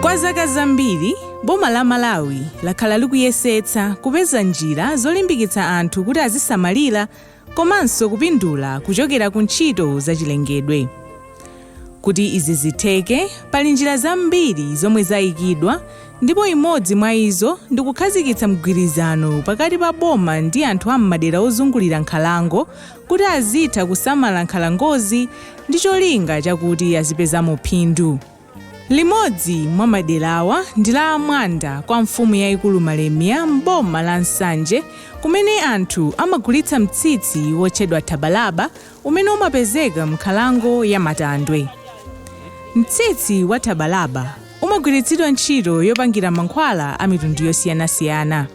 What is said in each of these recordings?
Kwa zaka zambiri, boma la Malawi lakhala likuyesetsa kupeza njira zolimbikitsa anthu kuti azisamalira komanso kupindula kuchokera ku ntchito zachilengedwe. Kuti izi zitheke, pali njira zambiri zomwe zaikidwa ndipo imodzi mwa izo ndi kukhazikitsa mgwirizano pakati pa boma ndi anthu a m'madera ozungulira nkhalango kuti azitha kusamala nkhalangozi ndi cholinga chakuti azipezamo phindu. Limodzi mwa maderawa ndi la a Mwanda kwa mfumu yaikulu Malemia m'boma la Nsanje kumene anthu amagulitsa mtsitsi wotchedwa Thabalaba umene umapezeka m'nkhalango ya Matandwe. Mtsitsi wa Thabalaba umagwiritsidwa ntchito yopangira mankhwala a mitundu yosiyanasiyana.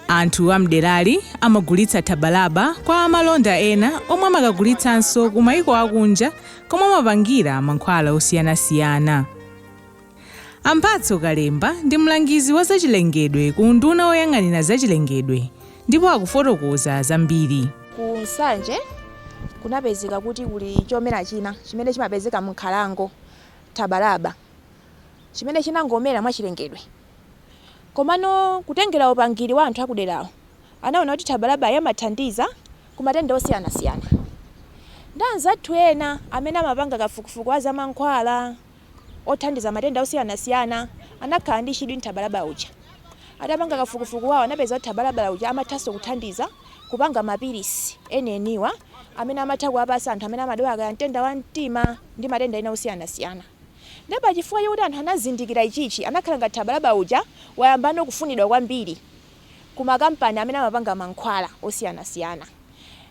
Anthu a m'derali amagulitsa thabalaba kwa amalonda ena omwe amakagulitsanso kumayiko akunja komwe amapangira mankhwala osiyanasiyana. A Mphatso Kalemba ndi mlangizi wa zachilengedwe ku unduna woyang'anira zachilengedwe ndipo akufotokoza zambiri. Ku Nsanje kunapezeka kuti kuli chomera china chimene chimapezeka m'nkhalango, thabalaba, chimene chinangomera mwachilengedwe. Komano kutengera upangiri wa anthu akuderawo, anaona kuti thabalabayo imathandiza ku matenda osiyanasiyana. Ndi anzathu ena amene amapanga kafukufuku wa zamankhwala othandiza matenda osiyanasiyana anakhala ndi chidwi n'thabalaba uja. Atapanga kafukufuku wawo anapeza kuti thabalaba uja amathanso kuthandiza kupanga mapilisi enieniwa amene amatha kuwapatsa anthu amene amadwala kaya nthenda wa mtima ndi matenda ena osiyanasiyana. Nde pa chifukwa chakuti anthu anazindikira ichichi anakhala ngati Thabalaba uja wayambano kufunidwa kwambiri ku ma kampani amene amapanga mankhwala osiyanasiyana.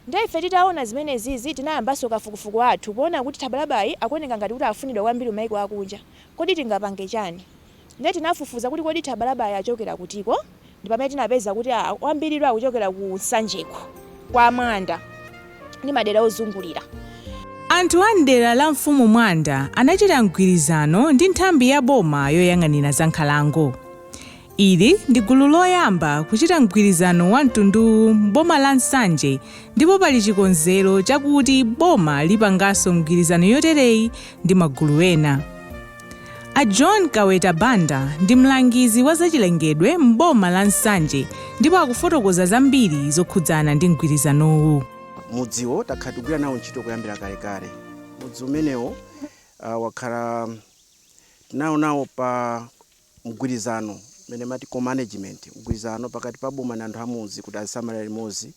Nde ife titaona zimenezizi tinayambanso kafukufuku wathu poona kuti Thabalabayi akuoneka ngati kuti afunidwa kwambiri ku maiko akunja. Kodi tingapange chani? Ndiye tinafufuza kuti kodi Thabalabayi achokera kutiko ndi pamene tinapeza kuti a, wambiriyu akuchokera ku Nsanjeku, kwa Mwanda ndi madera ozungulira. Anthu a m'dera la Mfumu Mwanda anachita mgwirizano ndi nthambi ya boma yoyang'anira za nkhalango. Ili ndi gulu loyamba kuchita mgwirizano wa mtunduwu m'boma la Nsanje ndipo pali chikonzero chakuti boma lipanganso mgwirizano yotereyi ndi magulu ena. A John Kaweta Banda ndi mlangizi wa zachilengedwe m'boma la Nsanje ndipo akufotokoza zambiri zokhudzana ndi mgwirizanowu. Mudziwo takhala tikugwira nawo ntchito kuyambira kalekale. Mudzi umenewo uh, wakhala tinawo nawo pa mgwirizano umene amati co-management, mgwirizano pakati pa boma ndi anthu amudzi kuti azisamalira limodzi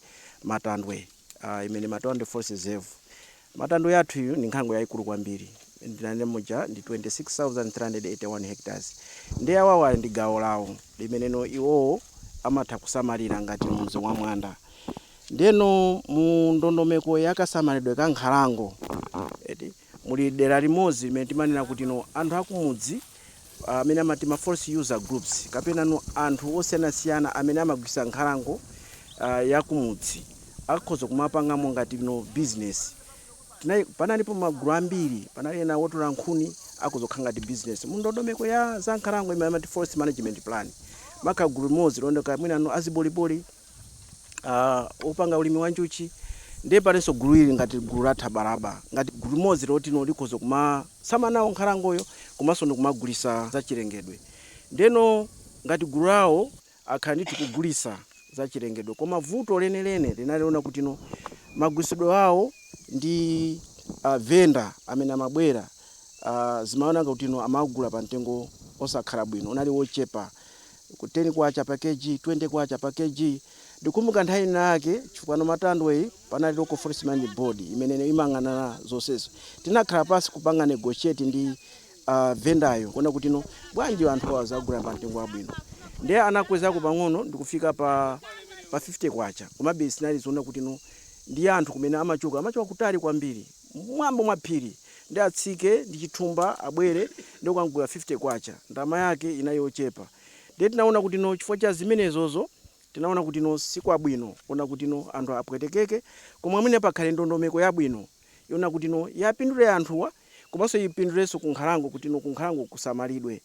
Matandwe uh, imene Matandwe forest reserve Matandwe yathu iyu ndi nkhalango yaikulu kwambiri ndinanena muja ndi 26,381 hectares nde awawa ndi gawo lawo limeneno iwowo amatha kusamalira ngati mudzi wa Mwanda ndeno mu ndondomeko ya kasamalidwe ka nkhalango eti muli dera limodzi limene timanena kutino anthu akumudzi amene amati ma forest user groups kapenano anthu osiyanasiyana amene amagwiritsa nkhalango ya kumudzi akhoza kumapangamo ngati no business panalipo magulu ambiri panali ena otola nkhuni akhoza kukhala ngati business mu ndondomeko ya za nkhalango imene amati forest management plan makagulu limodzi lonena kuti mwinano aziboliboli uh, opanga ulimi wa njuchi ndiye palinso gulu ili ngati gulu la thabalaba ngati gulu limodzi lotino likhoza kumasamala nawo nkhalangoyo komanso ndikumagulisa zachilengedwe ndeno ngati gulu lawo akhala ndithu kugulisa zachilengedwe koma vuto lenileni linali loona kutino magulisidwe awo ndi uh, venda amene amabwera uh, zimaoneka kutino amagula pa mtengo osakhala bwino unali wochepa Ku K10 pa Kg, K20 pa Kg. Ndikukumbuka nthawi ina yake chifukwano Matandwe panali Local Forest Management Board imene imayang'anira zonsezo. Tinakhala pansi kupanga negotiate ndi vendor yo kuona kuti no bwanji anthu awa aziwagula pa mtengo wabwino. Ndiye anakwezako pang'ono ndikufika pa pa K50 komabe zinali zoona kuti no ndi anthu kumene amachoka, amachoka kutali kwambiri. mmwamba mwa phiri ndi atsike ndi chithumba abwere ndikuwagula K50 ndalama yake inali yochepa ndiye tinaona kuti no chifukwa cha zimenezozo tinaona kuti no sikwabwino kuona kuti no anthu apwetekeke koma mwina pakhale ndondomeko yabwino yoona kuti no iwapindule anthuwa komanso ipindulenso ku nkhalango kuti no ku nkhalango kusamalidwe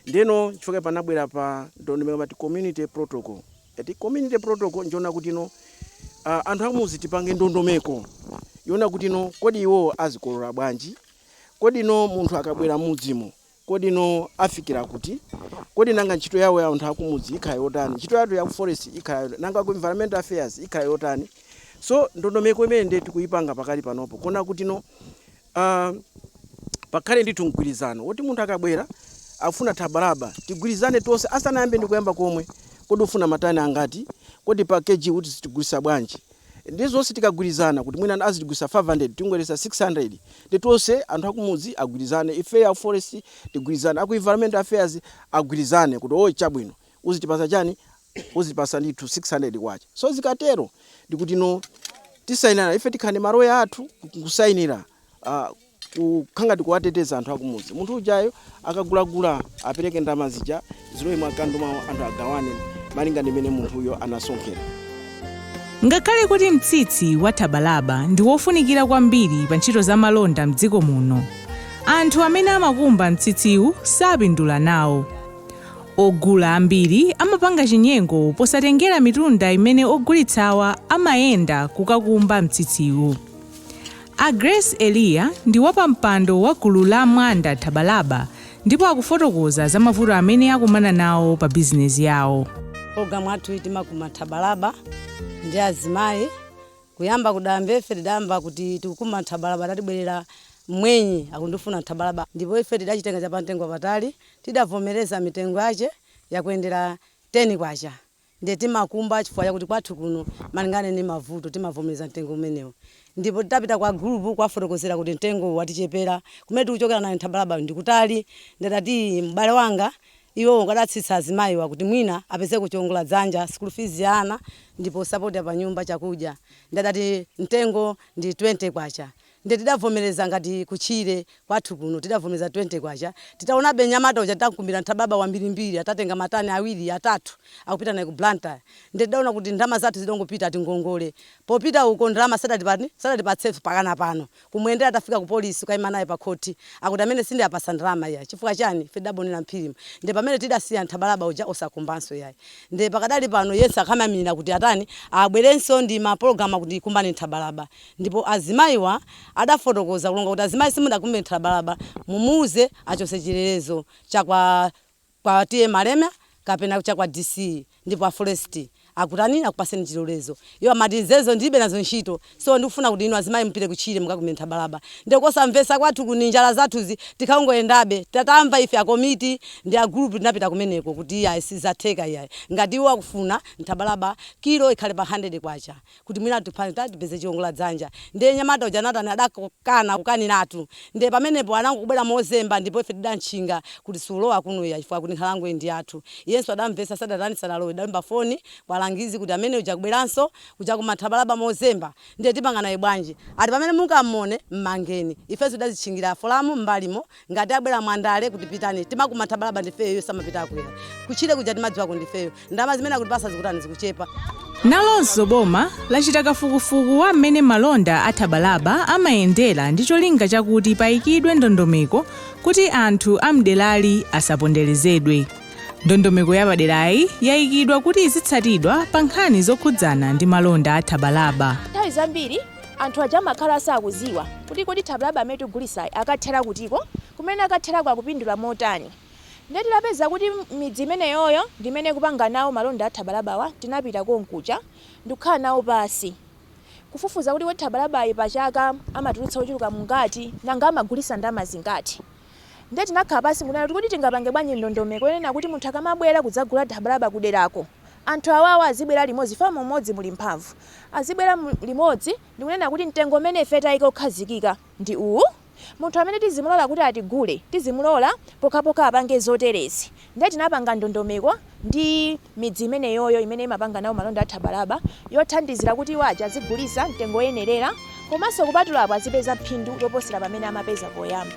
ndeno chifukwa panabwera pano ndondomeko amati community protocol eti community protocol njoona kuti no uh, anthu amudzi tipange ndondomeko yoona kuti no kodi iwo azikolola bwanji kodi no munthu akabwera mudzimo kodi no afikira kuti kodi nanga ntchito yawo ya anthu akumudzi ikhala yotani ntchito yathu ya forest ikhala yotani? nanga ku environmental affairs ikhala yotani so ndondomeko imene ndiye tikuyipanga pakali panopo kuona kuti no Uh, pakhale ndithu mgwirizano woti munthu akabwera akufuna thabalaba tigwirizane tonse asanayambe ndi kuyamba komwe kodi ufuna matani angati kodi pa kg kuti sitigulisa bwanji ndi zonse tikagwirizana kuti mwina azitigulisa 500 tingakwereze 600 ndi tonse anthu akumudzi agwirizane ife a forest tigwirizane aku environmental affairs agwirizane kuti oo chabwino uzitipasa chani uzitipasa ndithu K600 so zikatero ndikuti nde tisainirana ife tikhale ndi maloya athu nkusainira ah, kukhala ngati kuwateteza anthu akumudzi munthu ujayo akagulagula apereke ndalama zija zilowe mu akaunti mwawo anthu agawane malinga ndi mmene munthuyo anasonkhera Ngakhale kuti mtsitsi wa thabalaba ndi wofunikira kwambiri pa ntchito za malonda m'dziko muno, anthu amene amakumba mtsitsiwu sapindula nawo. Ogula ambiri amapanga chinyengo posatengera mitunda imene ogulitsawa amayenda kukakumba mtsitsiwu. A Grace Eliya ndi wapampando wa gulu la Mwanda Thabalaba ndipo akufotokoza za mavuto amene akumana nawo pa bizinezi yawo. Programme yathu iyi timakumba thabalaba ndi azimayi. Kuyamba kudayamba ife tidayamba kuti tikukumba thabalaba adatibwerera mmwenye akundifuna thabalaba ndipo ife tidachitenga chapamtengo wapatali Tidavomereza mitengo yache yakuyendera K10, ndiye timakumba chifukwa chakuti kwathu kuno malinga ndi mavuto timavomereza mtengo umenewu ndipo titapita kwa agulupu kuwafotokozera kuti mtengo uwu watichepera kumene tikuchokera nayo nthabalabayo ndikutali ndiye adati ii m'bale wanga iwowo akudatsitsa azimayiwa kuti mwina apezeko chiongoladzanja, sukulu fizi ya ana ndipo sapoti yapanyumba, chakudya ndiye adati mtengo ndi K20. Nde tidavomereza ngati ku tchire kwathu kuno tidavomereza K20. Titaonabe mnyamata uja tidamkumbira nthabalaba wambirimbiri atatenga matani awiri, atatu akupita naye ku Blantyre. Nde tidaona kuti ndalama zathu zidangopita ati ngongole. Popita uko ndalama sadatani, sadatipatsenso mpakana pano. Kumuyendera tafika ku polisi kukayima naye pa khothi akuti amenewa sindiwapatsa ndalama iyayi. Chifukwa chani? Ife tidagonera m'phirimu. Nde pamene tidasiya nthabalaba uja osakumbanso iyayi. Nde pakadali pano yense akamaimilira kuti atani abwerenso ndi mapologalamu akuti kumbani nthabalaba. Ndipo azimayiwa adafotokoza kulonga kuti azimayi simunakumbe nthabalaba mumuuze achotse chilolezo cha kwa TA Malemya kapena cha kwa DC ndipo a forest akutani akupaseni chilolezo iwo amati nzimenezo ndilibe nazo ntchito so ndikufuna kuti inu azimayi mupite kutchire mukakumbe nthabalaba nde kosamvetsa kwathu kuno njala zathuzi tinkangoyendabe tatamva ife akomiti ndi a gulupu tinapita kumeneko kuti iyayi sizatheka iyayi ngati iwo akufuna nthabalaba kilo ikhale pa 100 kwacha kuti mwina tipange kaya tipeze chiongola dzanja ndiye nyamata uja anatani adakana kukaniratu ndiye pamenepo anangobwera mozemba ndipo ife tidamtchinga kuti sulowa kuno iyayi chifukwa chakuti nkhalangoyi ndi yathu iyenso adamvetsa sadatani sadalowe tidaimba foni kwa alangizi kuti amene uja akubweranso kuja kukumba thabalaba mozemba ndiye tipanga naye bwanji ati pamene mungamuone m'mangeni ifenso tidazitchingira folomu m'mbalimo ngati abwera mwandale kuti pitani timakumba thabalaba ndifeyo iwo samapita kutchire kuja timadziwako ndifeyo ndalama zimene akutipasa zikutani zikuchepa nalonso boma lachita kafukufuku wa mmene malonda a thabalaba amayendera ndi cholinga chakuti payikidwe ndondomeko kuti anthu a mderali asaponderezedwe ndondomeko yapaderayi yayikidwa kuti izitsatidwa pa nkhani zokhudzana ndi malonda a thabalaba nthawi zambiri Anthu aja amakhala sakuziwa kuti kodi thabalaba amene tigulisayi akathera kutiko? Kumene akatherako akupindula motani? Ndiye titapeza kuti midzi imeneyoyo ndi imene ikupanga nawo malonda a thabalabawa tinapita konkuja ndikukhala nawo pasi kufufuza kuti kodi thabalabayi pachaka amatulutsa ochuluka bwanji nanga amagulisa ndalama zingati? Ndiye tinakhala pasi nkunena kuti kodi tingapange bwanji ndondomeko yonena kuti munthu akamabwera kudzagula thabalaba kuderako Anthu awawa azibwera limodzi chifukwa mu umodzi muli mphamvu. Azibwera limodzi ndi kunena kuti mtengo umene ife tayika wokhazikika ndi uwu. Munthu amene tizimulola kuti atigule tizimulola pokhapokha apange zoterezi. Ndiye tinapanga ndondomeko ndi midzi imeneyoyo imene imapanga nawo malonda a thabalaba yothandizira kuti iwo aja azigulitsa mtengo woyenerera. Komanso kupatula apo azipeza phindu loposera pamene amapeza poyamba.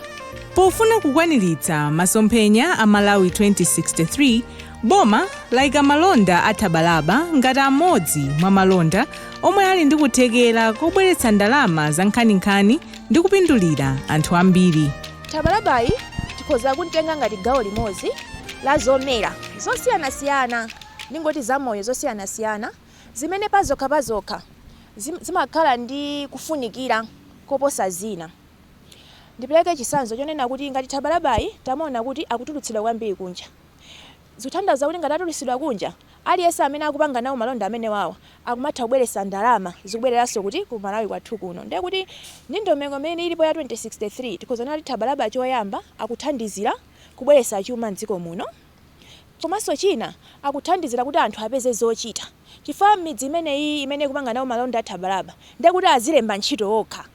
Pofuna kukwaniritsa masomphenya a Malawi 2063, boma laika malonda a thabalaba ngati amodzi mwa malonda omwe ali ndi kuthekera kobweretsa ndalama zankhaninkhani ndi kupindulira anthu ambiri. Thabalabayi tikhoza kuntenga ngati gawo limodzi la zomera zosiyanasiyana, ndingoti zamoyo zosiyanasiyana, zimene pazokha pazokha zim, zimakhala ndi kufunikira koposa zina. Ndipereke chisanzo chonena kuti ngati thabalabayi tamuona kuti akutulutsidwa kwambiri kunja, zikuthandauza kuti ngati atulutsidwa kunja, aliyense amene akupanga nawo malonda amenewawa akumatha kubweretsa ndalama zikubwereranso kuti, ku Malawi kwathu kuno. Ndiye kuti ndondomeko imene ilipo ya 2063, tikhoza kunena kuti thabalaba choyamba akuthandizira kubweretsa chuma m'dziko muno. Komanso china, akuthandizira kuti anthu apeze zochita chifukwa m'midzi imeneyiyi imene ikupanga nawo malonda a thabalaba ndiye kuti azilemba ntchito okha.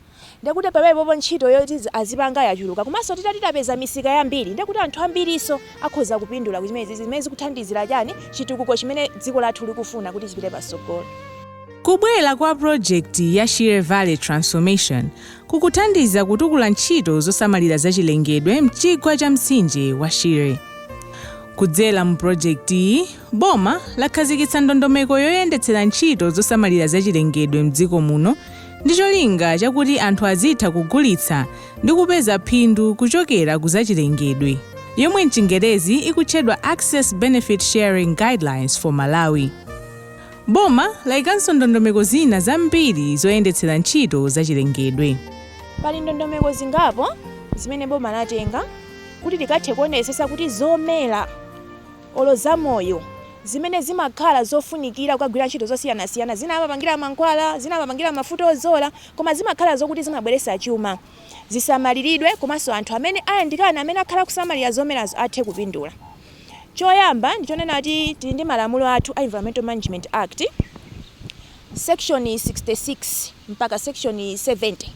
Ndiye kuti pamenepopo ntchito yoti azipanga yachuluka. Komanso titati tapeza misika yambiri ndiye kuti anthu ambirinso akhoza kupindula ku zimenezizi zimene zikuthandizira chani, chitukuko chimene dziko lathu likufuna kuti zipite patsogolo. Kubwera kwa pulojekiti ya Shire Valley Transformation ikuthandiza kutukula ntchito zosamalira zachilengedwe m'chigwa cha mtsinje wa Shire. Kudzera mu pulojekitiyi, boma lakhazikitsa ndondomeko yoyendetsera ntchito zosamalira zachilengedwe m'dziko muno ndi cholinga chakuti anthu azitha kugulitsa ndi kupeza phindu kuchokera ku zachilengedwe, yomwe m'Chingerezi ikutchedwa Access Benefit Sharing Guidelines for Malawi. Boma laikanso ndondomeko zina zambiri zoyendetsera ntchito zachilengedwe. Pali ndondomeko zingapo zimene boma latenga kuti likathe kuonetsetsa kuti zomera olo zamoyo zimene zimakhala zofunikira kukagwira ntchito zosiyanasiyana, zina amapangira mankhwala, zina amapangira mafuta odzola, koma zimakhala zokuti zimabweretsa chuma, zisamaliridwe komanso anthu amene ayandikana amene akhala akusamalira zomerazo athe kupindula. Choyamba ndi chonena kuti tili ndi malamulo athu a Environmental Management Act, section 66 mpaka section 70,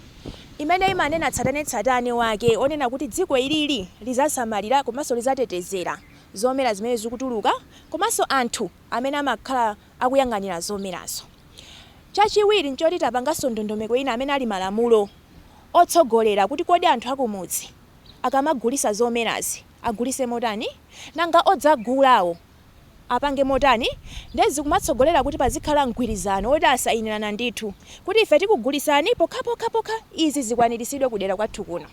imene imanena tsatanetsatane wake wonena kuti dziko ilili lidzasamalira komanso lidzatetezera zomera zimene zikutuluka komanso anthu amene amakhala akuyang'anira zomerazo. Chachiwiri n'choti tapanganso ndondomeko ina amene ali malamulo otsogolera kuti kodi anthu akumudzi akamagulitsa zomerazi, agulise motani? nanga odzagulawo apange motani? nde zikumatsogolera kuti pazikhala mgwirizano woti asayinirana ndithu kuti ife tikugulisani pokhapokhapokha izi zikwanirisidwe kudera kwathu kuno.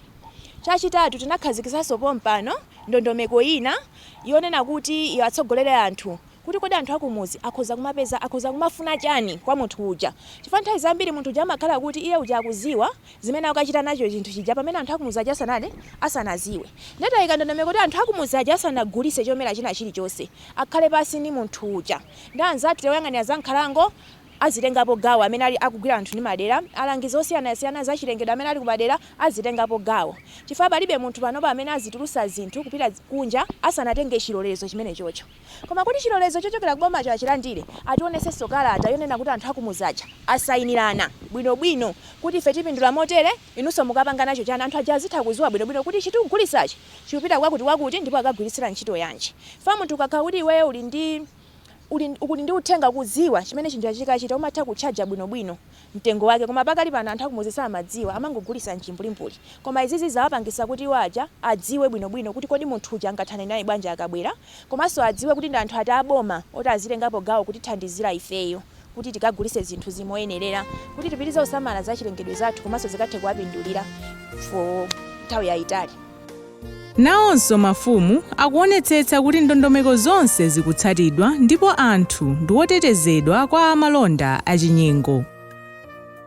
chachitatu tinakhazikisaso pompano ndondomeko ina yonena kuti iwatsogolere anthu kuti kodi anthu akumudzi akhoza kumapeza akhoza kumafuna chani kwa munthu uja chifukwa nthawi zambiri munthu uja amakhala kuti iye uja akuziwa zimene akukachita nacho chinthu chija pamene anthu akumudzi aja asanati asanaziwe nde tayika ndondomeko kuti anthu akumudzi aja asanagulise chomera china chili chonse akhale pansi ndi munthu uja ndi anzathu oyang'anira za nkhalango azitengapo gawo amene ali akugwira anthu ndi madera alangizi osiyanasiyana za chilengedwe amene ali kumadera azitengapo gawo chifukwa palibe munthu panopa amene azitulusa zinthu kupita kunja asanatenge chilolezo chimenechocho. Koma kuti chilolezo chochokera ku bomacho achilandire, ationetsenso kalata yonena kuti anthu a kumudzi aja asayinirana bwinobwino kuti ife tipindula motere, inunso mukapanga nacho chani? Anthu aja azitha kudziwa bwinobwino kuti ichi tikugulitsachi chikupita kwakutikwakuti ndipo akagwiritsira ntchito yanji. Chifukwa munthu ukakhala kuti iweyo uli ndi uli uli ndi uthenga kudziwa chimene chinthucha chikachita umatha kutchaja bwinobwino mtengo wake koma pakali pano anthu akumuzi samadziwa amangogulisa mchimbulimbuli koma izizi zawapangisa kuti iwo aja adziwe bwino bwino kuti kodi munthu uja angathane naye bwanji akabwera komanso adziwe kuti ndi anthu ati aboma oti azitengapo gawo kutithandizira ifeyo kuti tikagulise zinthuzi moyenelera kuti tipitirize kusamala zachilengedwe zathu komanso zikathe kuwapindulira for nthawi yayitali. Nawonso mafumu akuonetsetsa kuti ndondomeko zonse zikutsatidwa ndipo anthu ndiwotetezedwa kwa amalonda achinyengo.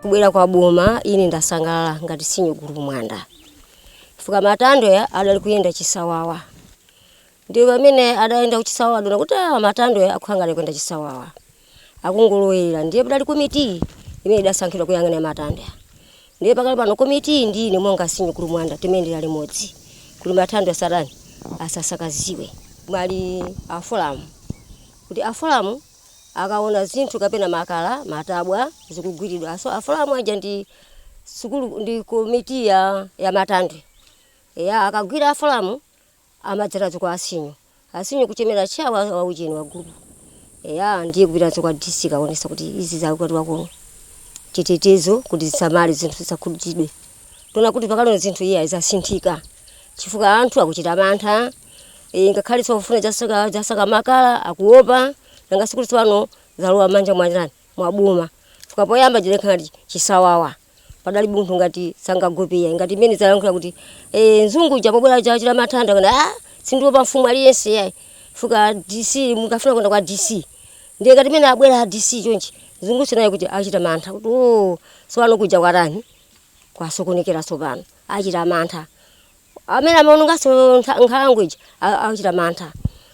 Kubwera kwa boma ine ndasangalala ngati senior gulupu Mwanda chifukwa Matandwe adali kuyenda chisawawa ndiye pamene adayenda kuchisawawa adaona kuti aa Matandwe akukhala ngati akuyenda chisawawa. akungolowerera ndiye padali komitiyi imene idasankhidwa kuyang'anira Matandwe ndiye pakali pano komitiyi ndi ine monga senior gulupu Mwanda timayendera limodzi kuti Matandwe asatani asasakaziwe muli afulamu kuti afulamu akaona zinthu kapena makala matabwa zikugwiridwa so afulamu aja ndi sukulu ndi komiti ya, ya matandwe eya akagwira afulamu Amadzeranso kwa a senior a senior kuchemera chair wa, wa ujeni wa group eya ndiye kupitanso kwa DC kukaonesa kuti izi zakatiwa kuno chitetezo kuti zisamale zinthu zisakhudidwe taona kuti pakalona zinthu iye zasinthika chifukwa anthu akuchita mantha e, ngakhale sofuna zasaka zasaka makala akuopa nanga sikuti pano zalowa m'manja mwandani mwa boma chifukwa poyamba zimakhala chisawawa padalibe munthu ngati sangagopeya ngati mmene adalankhula kuti eh, nzungu uja pobwera aja achita Matandwe kuna ah, sindiopa mfumu aliyense yayi fuka dc akafuna kuyenda kwa dc ndiye ngati mmene abwera a dc chonchi nzungu naye kuti achita mantha kuti o tsopano kuja kwatani kwasokonekera tsopano achita mantha Amene amaononganso nkhalango ija achita mantha.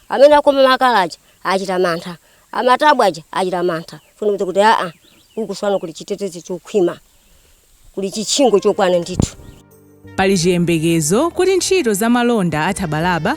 Amene akoma makala aja achita mantha. Amatabwa aja achita mantha. Kusonyeza kuti aa uku tsopano kuli chitetezo chokhwima. Kuli chitchingo chokwana ndithu. Pali chiyembekezo kuti ntchito za malonda a Thabalaba